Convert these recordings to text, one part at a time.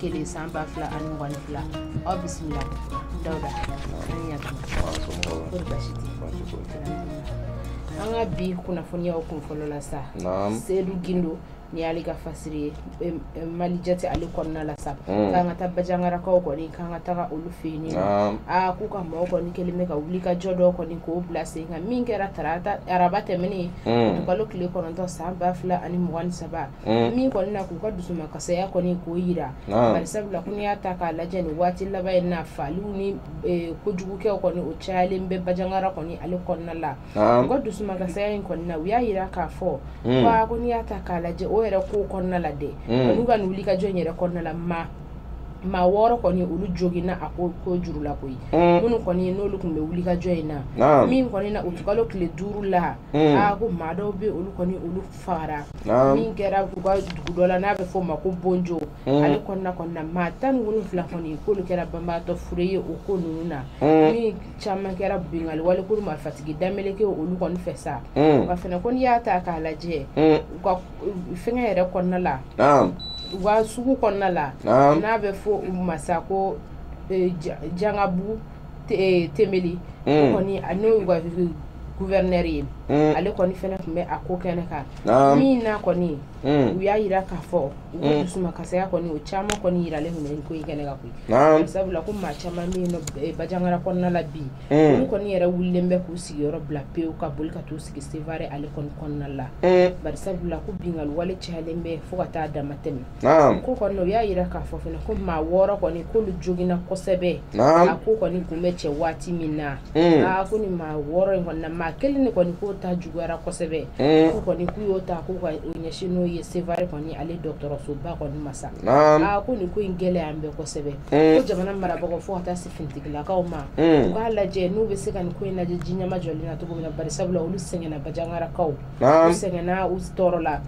kelen san ba fila ani mugan ni fila aw bisimila dawuda ani yato kori basi tɛ an ka bi kunnafoniyaw kun fɔlɔ la sa sedu gindo ni y'ale ka fasiri ye Malijet ale kɔnɔna la sa hmm. k'an ka taa bajangarakaw kɔni k'an ka taga olu fɛ yen nɔ aa k'u ka mɔgɔ kɔni kɛlen bɛ ka wulikajɔ dɔ kɔni k'o bila sen kan min kɛra tarata araba tɛmɛnen utikalo tile kɔnɔntɔn san ba fila ani mugan ni saba Mm. min kɔni na k'u ka dusumakasaya kɔni k'o yira ah. bari sabula ko n'i y'a ta k'a lajɛ nin waati laban in na faliw ni e, kojugukɛw kɔni o cayalen bɛ bajangara kɔni ale kɔnɔna la ah. u ka dusumakasaya in kɔni na u y'a yira k'a fɔ mm. ko ah, ko n'i y'a ta k'a lajɛ o yɛrɛ kow kɔnɔna la dɛ mm. olu ka nin wulikajɔ in yɛrɛ kɔnɔna la ma maa wɔɔrɔ kɔni olu joginna a ko ko jugu la koyi mm. minnu kɔni n'olu tun bɛ wulikajɔ in na min kɔni na utikalo tile duuru la a ko maa dɔw bɛ olu kɔni olu fagara min kɛra u ka dugu dɔ la n'a bɛ fɔ o ma ko bonjo hmm. ale kɔnɔna kɔnɔna maa tan ni wolonwula kɔni k'olu kɛra banbaatɔ fure ye o ko ninnu na hmm. min caman kɛra binkanni wale kulu marifatigi dameleke olu kɔni fɛ sa hmm. wa fana ko n'i y'a ta k'a lajɛ u ka fɛngɛ yɛrɛ kɔnɔna la u ka sugu kɔnɔna la n'a bɛ fɔ o ma sa ko eh, jangabu tenbeli kɔni ani u ka gouverneur ye ale kɔni fana tun bɛ a ko kɛnɛ kan min na kɔni u y'a yira k'a fɔ u ka dusumakasaya kɔni o caman kɔni yiralen tun bɛ ko in kɛnɛ kan koyi sabula ko maa caman bɛ yen Bajangara kɔnɔna la bi olu kɔni yɛrɛ wulilen bɛ k'u sigiyɔrɔ bila pewu ka boli ka t'u sigi Sevare ale kɔni kɔnɔna la bari sabula ko binkanni wale cayalen bɛ fo ka taa damatɛmɛ ko kɔni o y'a yira k'a fɔ fana ko maa wɔɔrɔ kɔni k'olu joginna kosɛbɛ a ko kɔni tun bɛ kɛ waati min na hmm. aa ko nin maa wɔɔrɔ in kɔni na maa kelen de kɔni k'o ta juguyara kosɛbɛ hmm. ko kɔni k'u y'o ta k'u ka o ɲɛsin n'o ye Sevare kɔni ale dɔgɔtɔrɔsoba kɔni ma sa aa ko nin ko in gɛlɛyalen bɛ kosɛbɛ hmm. ko jamana marabagaw fo ka taa se finitigilakaw ma u k'a lajɛ n'u bɛ se ka nin ko in lajɛ ji ɲɛmajɔlen na cogo min na bari sabula olu sɛgɛnna bajangarakaw u sɛgɛnna u tɔɔrɔla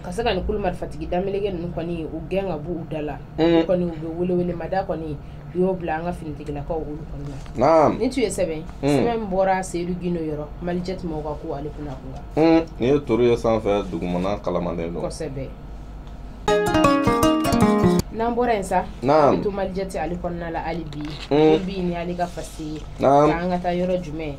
ka se ka nin kulu marifatigi dameleke ninnu kɔni ye u gɛn ka bɔ u da la kɔni u bɛ welewele mada kɔni u y'o bila an ka finitigilakaw olu kɔni na nin tun ye sɛbɛn sɛbɛn bɔra sedu gindo yɔrɔ Malijet maa ka ko ale kunna kunkan nin ye toro ye sanfɛ dugumana kalamaden dɔn kosɛbɛ n'an bɔra yen sa an to Malijet ale kɔnɔna la hali bi bi ni ale ka fasi ye an ka taa yɔrɔ jumɛn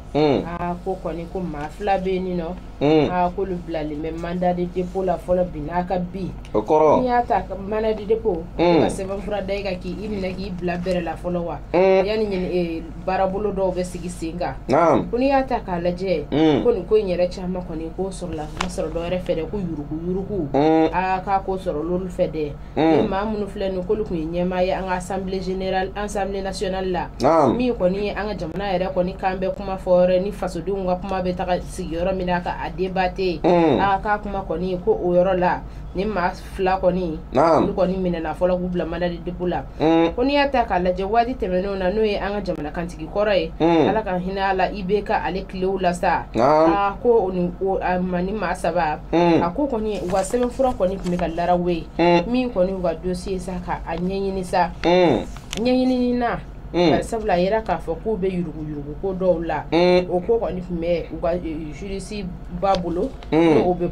ko kɔni ko maa fila bɛ yen nin nɔ Mm. Ah, k'olu bilalen bɛ mandat de dépôt la fɔlɔ bi n'a ka bi o kɔrɔ n'i y'a ta mandat de dépôt mm. ka sɛbɛnfura da i kan k'i minɛ k'i bila bɛrɛ la fɔlɔ wa mm. yanni ɲini eh, baarabolo dɔw bɛ sigi sen kan ko n'i y'a ta k'a lajɛ ko nin ko in yɛrɛ caman kɔni k'o sɔrɔla ma sɔrɔ dɔ wɛrɛ fɛ dɛ ko yuruguyurugu aa k'a k'o sɔrɔ olu fɛ dɛ Mm. maa minnu filɛ nin k'olu tun ye ɲɛmaa ye an ka assemblée générale assemblée nationale la min kɔni ye an ka jamana yɛrɛ kɔni kan bɛ kuma fɔ yɔrɔ ni fasodenw ka kuma bɛ taa sigi yɔrɔ min na ka a debate mm. a k'a kuma kɔni ko o yɔrɔ la nin maa fila kɔni olu kɔni minɛna fɔlɔ k'u bila mandat de dépôt la mm. ko n'i y'a ta k'a lajɛ waati tɛmɛnenw na n'o ye an ka jamana kantigi kɔrɔ ye ala ka hinɛ a la IBK ale tilew la sa a ko maa nin maa saba a ko kɔni u ka sɛbɛn fura kɔni tun bɛ ka laraw ye min kɔni u ka dossier sa ka a ɲɛɲini sa ɲɛɲini na sabula a yira k'a fɔ k'u bɛ yuruguyurugu ko dɔw la o ko kɔni tun bɛ u ka justice ba bolo o bɛ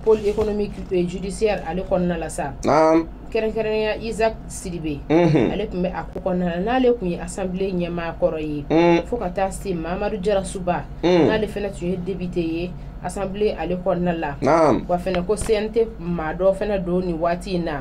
pôle économique judiciaire ale kɔnɔna la sa kɛrɛnkɛrɛnya isak sidibe mhm. ale tun bɛ a ko kɔnɔna na n'ale tun ye assemblée ɲɛmaa kɔrɔ ye mhm. fo ka taa se mamadu jarasuba mhm. n'ale fana tun ye député ye assemblée ale kɔnɔna la wa fana ko cnt maa dɔ fana don nin waati in na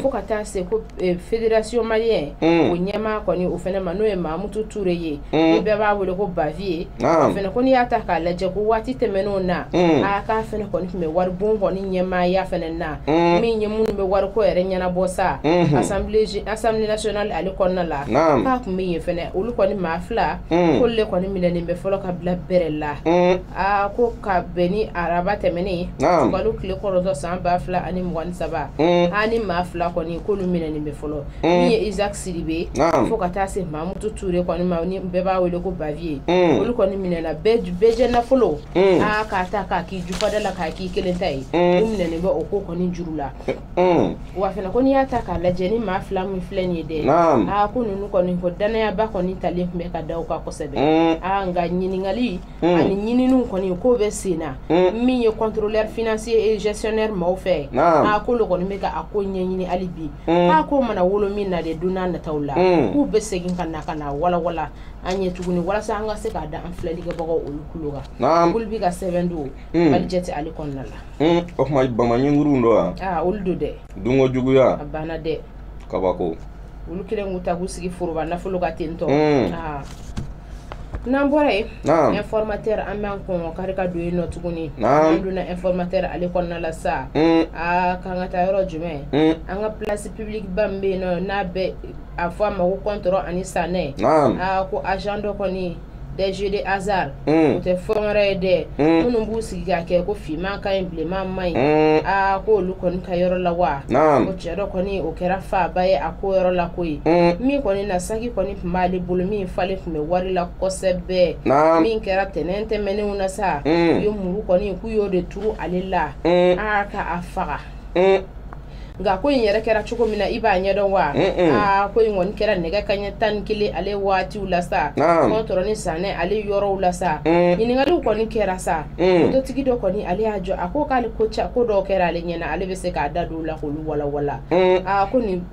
fo ka taa se ko e, fédération malienne o ɲɛmaa kɔni o fana ma n'o ye mamutu ture ye ni bɛɛ b'a wele ko bavieux o fana ko n'i y'a ta k'a lajɛ ko waati tɛmɛnenw na a k'a fana kɔni tun bɛ waribon kɔni ɲɛmaaya fana na Mm. min ye minnu bɛ wariko yɛrɛ ɲɛnabɔ sa mm-hmm. assemblée nationale ale kɔnɔna la k'a tun bɛ yen fɛnɛ olu kɔni maa fila mm. k'olu le kɔni minɛnen bɛ fɔlɔ ka bila bɛrɛ la mm. aa ko ka bɛn nin araba tɛmɛnen utikalo tile kɔnɔntɔn san ba fila ani mugan ni saba a nin maa fila kɔni k'olu minɛnen bɛ fɔlɔ min ye isaac sidibe fo ka taa se mamutu ture kɔni ma ni bɛɛ b'a wele ko bavieux olu kɔni minɛna bɛɛjɛ nafolo Mm. aa ah, k'a ta k'a k'i jufada la k'a k'i kelen ta ye mm. u minɛnen bɛ o ko kɔni juru la mm. wa fana ko n'i y'a ta k'a lajɛ nin maa fila min filɛ nin ye dɛ aa ah, ko ninnu kɔni ko dannayaba kɔni talen tun bɛ ka da u kan kosɛbɛ aa ah, nka ɲininkali ani ɲininiw kɔni k'o bɛ sen na min ye contrôleur financier et gestionnaire maaw fɛ aa k'olu kɔni bɛ ka a ko ɲɛɲini hali bi k'a ko mana wolo min na de don n'a nataw la k'u bɛ segin ka na ka na walawala an ye tuguni walasa an ka se k'a da an filɛlikɛbagaw olu kulo kan naam olu bi ka sɛbɛn don Hmm. malijet ale kɔnɔna la Hmm, o tuma bamanɲinguruw don wa aa olu don dɛ dunko juguya a banna dɛ kabako olu kelen k'u ta k'u sigi foroba nafolo kan ten tɔ Hmm. aa n'an bɔra yen naam informateur an b'an kɔngɔ kari ka don yen nɔ tuguni Naam. an donna informateur ale kɔnɔna la sa Hmm, aa k'an ka taa yɔrɔ jumɛn hmm, an ka place publique ba min bɛ yen nɔ n'a bɛ a fɔ a ma ko kɔntɔrɔn ani sanɛ aa ko agent dɔ kɔni des jeux de hasard hmm. o tɛ fɛn wɛrɛ ye dɛ hmm. minnu b'u sigi ka kɛ ko finman ka ɲi bilenman man ɲi hmm. aa ko olu kɔni ka yɔrɔ la wa ko cɛ dɔ kɔni o kɛra faaba ye a ko yɔrɔ la ko ye min kɔni na saki kɔni tun b'ale bolo min falen tun bɛ wari la kosɛbɛ min kɛra tɛnɛn tɛmɛnenw na sa u ye muru kɔni k'u y'o de turu ale la aa ka a faga nka ko in yɛrɛ kɛra cogo min na i b'a ɲɛdɔn wa aa ko in kɔni kɛra nɛgɛ kan ɲɛ tan ni kelen ale waatiw la sa kɔntɔrɔ ni sanɛ ale yɔrɔw la sa ɲininkaliw kɔni kɛra sa mototigi dɔ kɔni ale y'a jɔ a ko k'ale ko dɔw kɛra ale ɲɛna ale bɛ se k'a da don u la k'olu walawala aa ko nin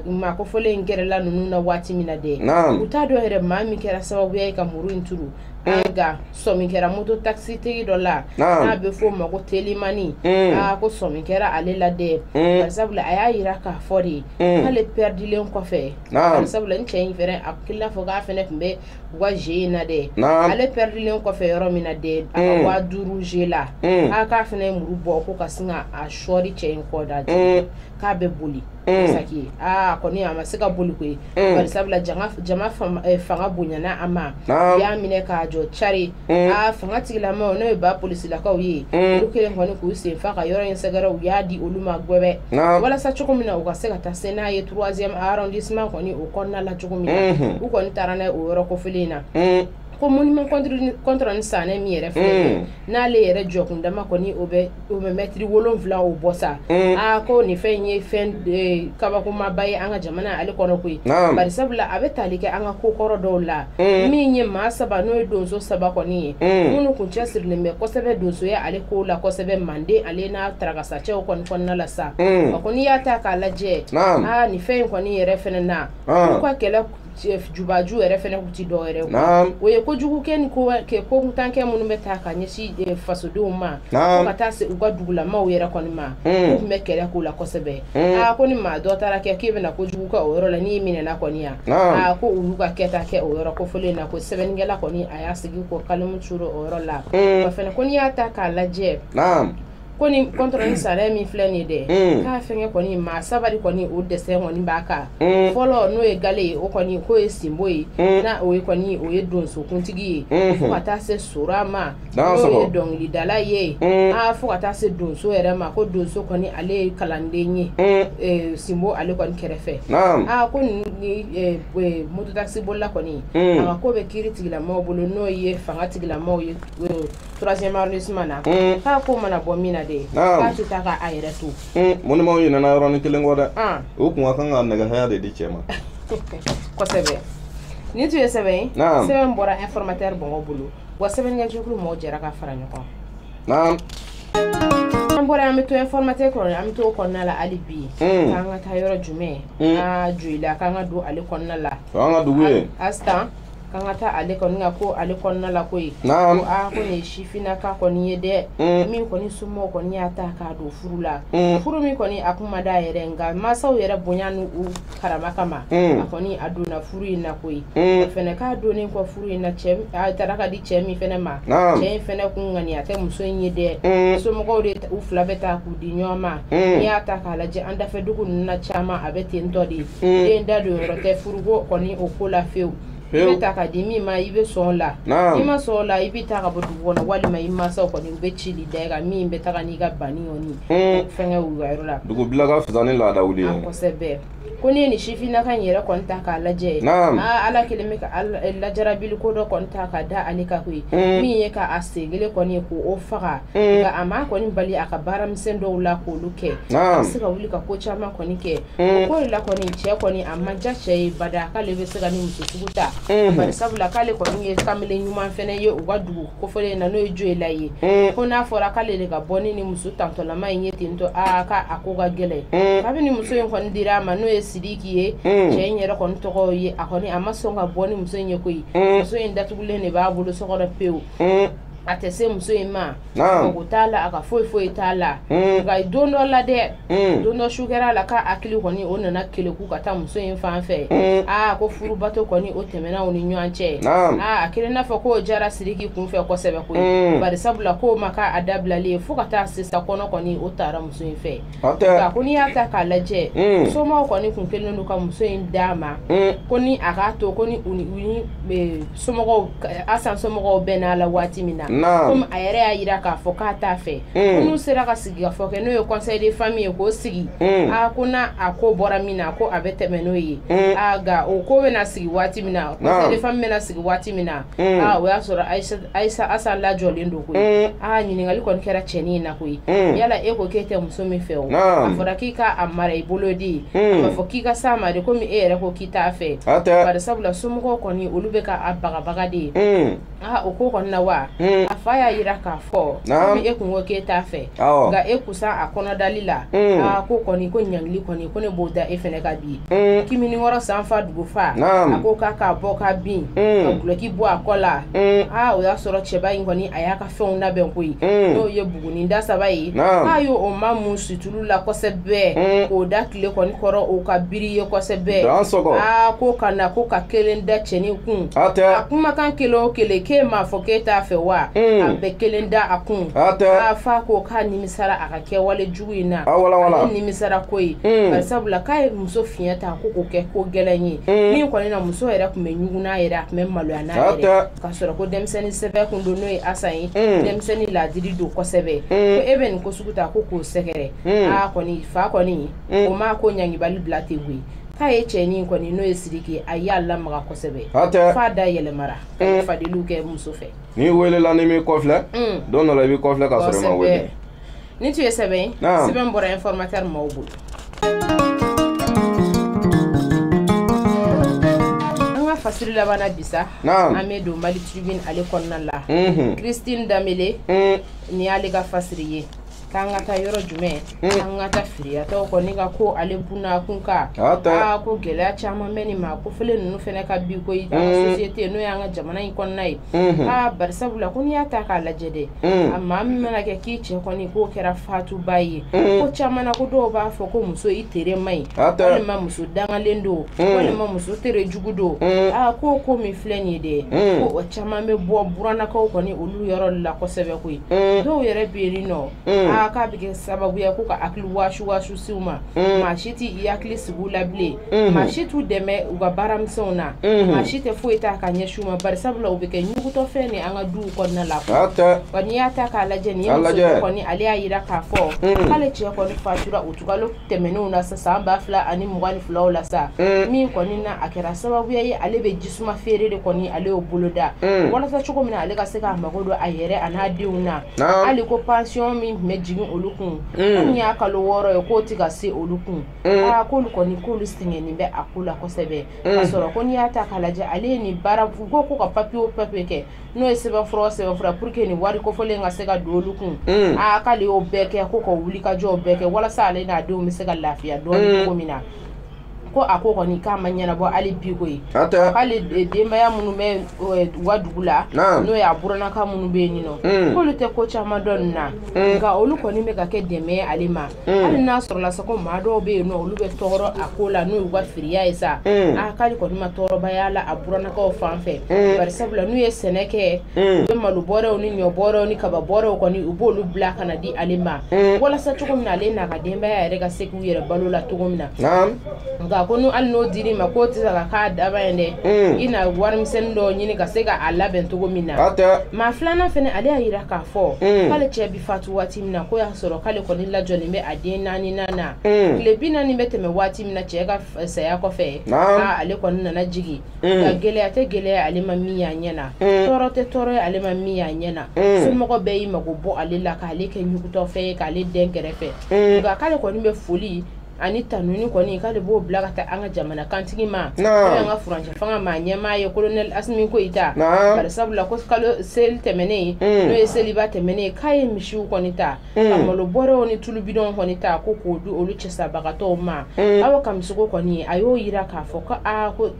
maa kofɔlen in kɛrɛla ninnu na waati min na dɛ u t'a dɔn yɛrɛ maa min kɛra sababuya ye ka muru in turu an nka sɔmi kɛra moto takisitigi dɔ la n'a bɛ f'o ma ko telimani mm. aa ko sɔmi kɛra ale la dɛ mm. barisabula a y'a yira k'a fɔ de mm. k'ale pɛridilen kɔfɛ barisabula n cɛ in fɛnɛ a k'i n'a fɔ k'a fɛnɛ tun bɛ u ka jeu in na dɛ ale pɛridilen kɔfɛ yɔrɔ min na dɛ a ka waa duuru jeu la a k'a fɛnɛ ye muru bɔ ko ka sin ka a sɔɔri cɛ in kɔ da k'a bɛ boli saki ye aa kɔni a ma se ka boli koyi bari sabula jama fanga bonyana a ma u y'a minɛ k'a jɔ cari aa fanga tigilamaaw n'o ye ba polisilakaw ye olu kɛlen kɔni k'u sen fa ka yɔrɔ in sɛgɛrɛ u y'a di olu ma gwɛbɛ walasa cogo min na u ka se ka taa se n'a ye troisième arrondissement kɔni o kɔnɔna la cogo min na u kɔni taara n'a ye o yɔrɔ kofɔlen in na ko monument kɔntɔrɔ ni sanɛ min yɛrɛ filɛ n'ale yɛrɛ jɔkundama kɔni o bɛ o bɛ mɛtiri wolonwula o bɔ sa mm. aa ah, ko nin fɛn in ye fɛn eh, kabakomaba ye an ka jamana ale kɔnɔ koyi bari sabula a bɛ tali kɛ an ka kokɔrɔ dɔw la mm. min ye maa saba n'o ye donso saba kɔni ye mm. minnu kun cɛsirilen bɛ kosɛbɛ donsoya ale ko la kosɛbɛ manden ale n'a tarakasacɛw kɔni kɔnɔna la sa wa ko n'i y'a ta k'a lajɛ aa ah, nin fɛn in kɔni yɛrɛ fɛnɛ na u ka kɛlɛ jubaju yɛrɛ fɛnɛ kun tɛ dɔ wɛrɛ o ye kojugukɛ ni kokuntankɛ minnu bɛ taa ka ɲɛsin eh, fasodenw ma fo ka taa se u ka dugulamaw yɛrɛ kɔni ma hmm. u tun bɛ kɛlɛ k'o la kosɛbɛ hmm. aa ko ni maa dɔ taara kɛ k'e bɛna kojugu kɛ o yɔrɔ la n'i minɛna kɔni yan aa ko olu ka kɛta kɛ o yɔrɔ kofɔlen na ko sɛbɛnnikɛla kɔni a y'a sigi ko kalimu turu o yɔrɔ la hmm. wa fɛnɛ ko n'i y'a ta k'a lajɛ ko ni kɔntɔrɔ ni sanɛ min filɛ nin ye dɛ mm. k'a fɛngɛ kɔni maa saba kɔni o dessin kɔni b'a kan mm. fɔlɔ n'o ye gale ye o kɔni k'o ye sinbo ye mm. na o ye kɔni o ye donsokuntigi ye mm-hmm. fo ka taa se sora ma n'o ye dɔnkilidala ye mm. a fo ka taa se donso yɛrɛ ma ko donso kɔni ale ye kalanden ye eh, sinbo ale kɔni kɛrɛfɛ a ko ni eh, eh, mototakisibolila kɔni a ka ko bɛ kiiri tigilamaaw bolo n'o ye fanga tigilamaaw ye troisième arrondissement na mm. k'a ko mana bɔ min na de k'a tɛ taa ka a yɛrɛ to mm. monument ɲinɛna yɔrɔnin kelen kɔ dɛ ah. u kun ka kan ka nɛgɛ haya de di cɛ ma kosɛbɛ nin tun ye sɛbɛn ye sɛbɛn bɔra informateur bɔngɔ bolo wa sɛbɛnnikɛjɛkulu mɔgɔw jɛra ka fara ɲɔgɔn naam an bɔra an bɛ to informateur kɔnɔ an bɛ to o kɔnɔna la hali bi mm. k'an ka taa yɔrɔ jumɛn an ka joyila k'an ka don ale kɔnɔna la o y'an ka dugu ye astan k'an ka taa ale kɔni ka ko ale kɔnɔna la koyi ko aa ko nin ye sifinnaka kɔni ye dɛ mm. min kɔni somɔgɔw kɔni y'a ta k'a don furu la mm. furu min kɔni a kun ma d'a yɛrɛ nka mansaw yɛrɛ bonya n'u karama kama mm. a kɔni a donna furu in na koyi o fɛnɛ k'a donnen kɔ furu in na cɛ a tara ka di cɛ min fɛnɛ ma cɛ in fɛnɛ kun ŋaniya tɛ muso in ye dɛ somɔgɔw de u fila bɛɛ ta k'u di ɲɔgɔn ma n'i y'a ta k'a lajɛ an dafɛ dugu ninnu na caman a bɛ ten tɔ de mm. den da don yɔrɔ tɛ furuko kɔni o ko la fewu i bɛ ta ka di min ma i bɛ sɔn la n'i ma sɔn la i bɛ ta ka bɔ dugu kɔnɔ walima i mansaw kɔni u bɛ cili da i kan min bɛ taga n'i ka banni kɔni mm. fɛnkɛ u ka yɔrɔ la dugu bila ka fisa ni laada wuli ye ah, kosɛbɛ ko n'i ye nin sifinnaka in yɛrɛ kɔni ta k'a lajɛ ah, ala kɛlen bɛ ka eh, lajarabili ko dɔ kɔni ta ka da ale kan koyi mm. min ye ka a sen kelen kɔni ye k'o faga mm. nka a ma kɔni bali a ka baaramisɛn dɔw la k'olu kɛ a bɛ se ka wuli ka ko caman kɔni kɛ Mm. ko la kɔni cɛ kɔni a ma diya cɛ ye bada k'ale bɛ se ka ni muso sugu ta mm-hmm. bari sabula k'ale kɔni ye kamele ɲuman fɛnɛ ye u ka dugu kofɔlen na n'o ye joyila ye mm. ko n'a fɔra k'ale de ka bɔ ni ni muso tantɔlama in ye ten tɔ aa k'a ko ka gɛlɛn mm. kabini muso in kɔni dira a ma n'o ye sidiki ye cɛ in yɛrɛ kɔni tɔgɔ ye a kɔni a ma sɔn ka bɔ ni muso in ye koyi muso in datugulen de b'a bolo so kɔnɔ pewu mm. a tɛ se muso in ma mago t'a la a ka foyi foyi t'a la mm. nka don dɔ la dɛ mm. don dɔ su kɛra la k'a hakili kɔni o nana keleku ka taa muso in fan fɛ mm. aa ko furubato kɔni o tɛmɛna u ni ɲɔgɔn cɛ aa a kɛlen n'a fɔ k'o jara siriki kun fɛ kosɛbɛ koyi bari sabula k'o ma k'a dabilali ye fo ka taa sisan kɔnɔ kɔni o tara muso in fɛ ko n'i y'a ta k'a lajɛ mm. somaw kɔni kun kɛlen don ka muso in d'a ma mm. ko ni a k'a to ko ni somɔgɔw asan somɔgɔw bɛɛ n'a la waati min na komi a yɛrɛ y'a yira k'a fɔ k'a t'a fɛ mm. ko n'u sera ka sigikafɔ kɛ n'o ye conseil de famille ye k'o sigi a ko na a ko bɔra min na ko a bɛ tɛmɛ n'o ye a nka o ko bɛna sigi waati min na conseil de famille bɛna sigi waati min na Mm. Ah, o y'a sɔrɔ ayisa asan lajɔlen don koyi mm. aa ah, ɲininkali kɔni kɛra cɛnin in na koyi mm. yala e ko k'e tɛ muso min fɛ o a fɔra k'i ka a mara i bolo de a ma fɔ k'i ka s'a ma de komi e yɛrɛ ko k'i t'a fɛ bari sabula somɔgɔw kɔni olu bɛ ka a bagabaga de ye aa ah, o ko kɔni na wa a fa y'a yira k'a fɔ komi e kun ko k'e t'a fɛ nka e kusan a kɔnɔdali la aa ko kɔni ko ɲangili kɔni ko ne b'o da e fɛnɛ kan bi mm. kimini wɔrɔ sanfa dugufa a ko k'a k'a bɔ ka bin mm. ka gulɔki bɔ a kɔ la mm. aa o y'a sɔrɔ cɛba in kɔni a y'a ka fɛnw labɛn koyi n'o ye buguni da saba ye k'a y'o mamun situlu la kosɛbɛ k'o da kile kɔni kɔrɔ o ka biri ye kosɛbɛ aa ko ka na ko ka kelen da cɛnin kun a kumakan kelen o kelen k'e m'a fɔ k'e t'a fɛ wa a bɛ kelen da a kun aa fa ko k'a nimisara a ka kɛwale nimisara ko sabula k'a ye muso fiɲɛ ta ko ko kɛ ko gɛlɛn ye min kɔni na muso yɛrɛ tun bɛ ɲugun a yɛrɛ a tun bɛ maloya n'a yɛrɛ ka sɔrɔ ko denmisɛnnin sɛbɛ kun don n'o ye asa ye denmisɛnnin laadiri don kosɛbɛ ko e bɛ nin ko sugu ta ko k'o sɛgɛrɛ aa kɔni fa kɔni ye o ma ko ɲangibali bila tɛ koyi k'a ye cɛnin kɔni n'o ye siriki a y'a lamaga kosɛbɛ f'a da yɛlɛmara faden kɛ muso fɛ n'i weelela n'i m'i kɔfilɛ don dɔ i bɛ kɔfilɛ ka sɔrɔ ma Nin tun ye sɛbɛn ye sɛbɛn bɔra informateur mɔɔw bolo an ka fasiri laban na bi sa an bɛ don Mali tribune ale kɔnɔna la mhm. Christine Danbele mhm. nin y'ale ka fasiri ye k'an ka taa yɔrɔ jumɛn mhm. an ka taa firiyatɔw kɔni ka ko ale bunna kun kan aa ko gɛlɛya caman bɛ nin maa kofɔlen ninnu fana kan bi koyi société n'o y'an ka jamana in kɔnɔna ye aa barisabu la ko n'i y'a ta k'a lajɛ dɛ a maa min mana kɛ k'i cɛ kɔni k'o kɛra fatubaa ye ko caman na ko dɔw b'a fɔ ko muso i tere ma ɲi walima muso dangalen don walima muso tere jugu don aa ko ko min filɛ nin ye dɛ ko o caman bɛ bɔ burannakaw kɔni olu yɔrɔ la kosɛbɛ koyi dɔw yɛrɛ bɛ yen nɔ aa k'a bɛ kɛ sababuya ko ka hakili wasuwasu se u ma maa si tɛ i hakili sigi u la bilen maa si t'u dɛmɛ u ka baaramisɛnw na maa si tɛ foyi ta ka ɲɛsin u ma bari sabula u bɛ kɛ ɲuguntɔfɛn ye an ka duw kɔnɔna la wa n'i y'a ta k'a lajɛ nin ye muso kɔni ale y'a jira k'a fɔ k'ale cɛ kɔni fatura utikalo tɛmɛnenw na sa san ba fila ani mugan ni filaw la sa min kɔni na a kɛra sababuya ye ale bɛ jisuma feere de kɔni ale y'o boloda walasa cogo min na ale ka se k'a mago don a yɛrɛ an'a denw na hali ko pansiyɔn min tun bɛ jigin olu kun nin y'a kalo wɔɔrɔ ye k'o tɛ ka se olu kun k'olu kɔni k'olu sɛgɛnnen bɛ a ko la kosɛbɛ ka sɔrɔ ko n'i y'a ta k'a lajɛ ale ye nin baara ko ko ka papiye o papiye kɛ n'o ye sɛbɛnfura o sɛbɛnfura pour que nin wari kofɔlen ka se ka don olu kun aa k'ale y'o bɛɛ kɛ ko ka wulikajɔw bɛɛ kɛ walasa ale n'a denw bɛ se ka lafiya dɔɔni cogo min na ko a ko kɔni k'a ma ɲɛnabɔ hali bi koyi k'ale denbaya minnu bɛ u ka dugu la n'o ye a buranaka minnu bɛ yen nin nɔ k'olu tɛ ko caman dɔn nin na nka olu kɔni bɛ ka kɛ dɛmɛ ale ma Mm. hali n'a sɔrɔla sa ko maa dɔw bɛ yen nɔ olu bɛ tɔɔrɔ a ko la n'o y'u ka firiya ye sa mm. a k'ale kɔni ma tɔɔrɔba y'a la a burannakaw fan fɛ mm. bari sabula n'u ye sɛnɛ kɛ u bɛ malo bɔrɛw ni ɲɔ bɔrɛw ni kaba bɔrɛw kɔni u b'olu bila ka na di ale ma walasa cogo min na ale n'a ka denbaya yɛrɛ ka se k'u yɛrɛ balo la cogo min na nka ko n'u hali n'o dir'i ma k'o tɛ se ka k'a daba ye dɛ i na warimisɛnnin dɔw ɲini ka se k'a labɛn cogo min na maa filanan fana ale y'a jira k'a fɔ k'ale cɛ fatu waati min na ko y'a sɔrɔ k'ale kɔni lajɔlen bɛ a den naaninan na tile bi naani bɛ tɛmɛ waati min na cɛ ka saya kɔfɛ ale kɔni nana jigin nka gɛlɛya tɛ gɛlɛya ale ma min y'a ɲɛ na tɔɔrɔ tɛ tɔɔrɔ ye ale ma min y'a ɲɛ na somɔgɔ bɛɛ y'i mago bɔ ale la k'ale kɛ ɲugutɔfɛn ye k'ale dɛn kɛrɛfɛ nka k'ale kɔni bɛ foli ani tanuni kɔni k'ale b'o bila ka taa an ka jamana kantigi ma n'o y'an ka furancɛ fanga ma ɲɛmaa ye kolonɛli asimi goyita bari sabula ko kalo seli tɛmɛnen mm. n'o ye seliba tɛmɛnen ye k'a ye misiw kɔni ta ka mm. malo bɔrɛw ni tulubidɔnw kɔni ta ko k'o di olu cɛsabagatɔw ma mm. awa kamisoko kɔni a y'o yira k'a fɔ ko aa ko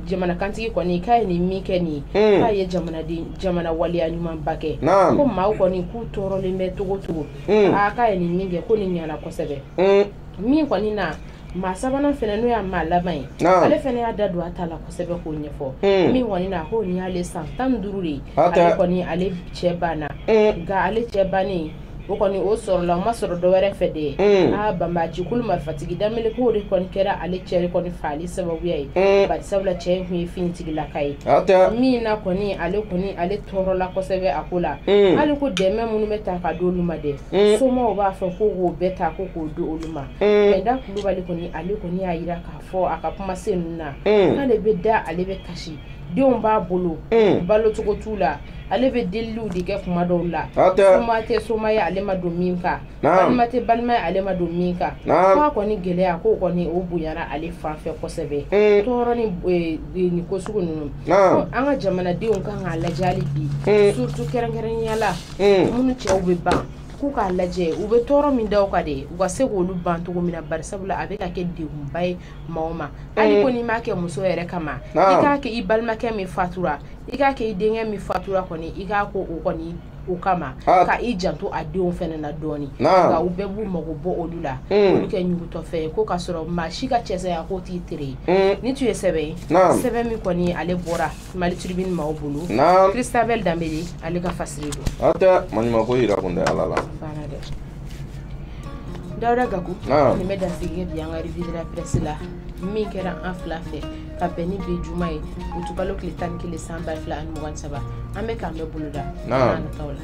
jamana kantigi kɔni k'a ye nin min kɛ nin k'a ye jamanaden jamana waleya ɲumanba kɛ ko maaw kɔni k'u tɔɔrɔlen bɛ dogo dogo mm. aa k'a ye nin min kɛ ko nin ɲana kosɛbɛ mm. min kɔni na maa sabanan fɛnɛ n'o y'a maa laban ye ale fɛnɛ y'a da don a ta la kosɛbɛ k'o ɲɛfɔ hmm. min kɔni na ko nin y'ale san tan ni duuru de ye ale kɔni ale cɛ banna hmm. nka ale cɛ bannen o kɔni o sɔrɔla o ma sɔrɔ dɔwɛrɛ fɛ de hmm. a banbaanci kulu marifatigi damele ko de kɔni kɛra ale cɛ de kɔni faali sababuya ye bari sabula cɛ in tun ye finitigilaka ye min na kɔni ale kɔni ale tɔɔrɔla kosɛbɛ a ko la mm. hali ko dɛmɛ minnu bɛ ta ka di olu ma dɛ mm. somaw b'a fɔ ko k'o bɛɛ ta ko k'o di olu ma mm. mɛ da kulubali kɔni ale kɔni y'a jira k'a fɔ a ka kumasenw na k'ale bɛ da ale bɛ kasi denw b'a bolo balo cogo t'u la ale bɛ deliliw de kɛ kuma dɔw la soma tɛ soma ye ale ma don min kan balima tɛ balima ale ma don min kan k'a kɔni gɛlɛya k'o kɔni o bonyara ale fan fɛ kosɛbɛ tɔɔrɔ ni ko sugu ninnu an ka jamanadenw k'an k'a lajɛ hali bi surtout kɛrɛnkɛrɛnya la minnu cɛw bɛ ban k'u k'a lajɛ u bɛ tɔɔrɔ min da u kan de u ka se k'olu ban cogo min na bari sabula a bɛ ka kɛ deba ye maa ma hali ko n'i m'a kɛ muso yɛrɛ kama i k'a kɛ i balimakɛ min fatura i k'a kɛ i denkɛ min fatura kɔni i k'a kɛ o kɔni o kama ah. ka i janto a denw fana na dɔɔni nka u bɛɛ b'u mago bɔ olu la hmm. olu kɛ ɲugutɔfɛn ye ko k'a sɔrɔ maa si ka cɛ saya k'o t'i tere ye hmm. nin tun ye sɛbɛn ye sɛbɛn min kɔni ale bɔra mali tribune maaw bolo christabel danbele ale ka fasiri don a tɛ maɲumako yira kun tɛ ala la dawuda gaku nin bɛ dansigi kɛ bi an ka revue de la presse la min kɛra an fila fɛ ka bɛn ni bi juma ye utukalo tile tan ni kelen san ba fila ani mugan ni saba an bɛ k'an bɛn boloda nataw la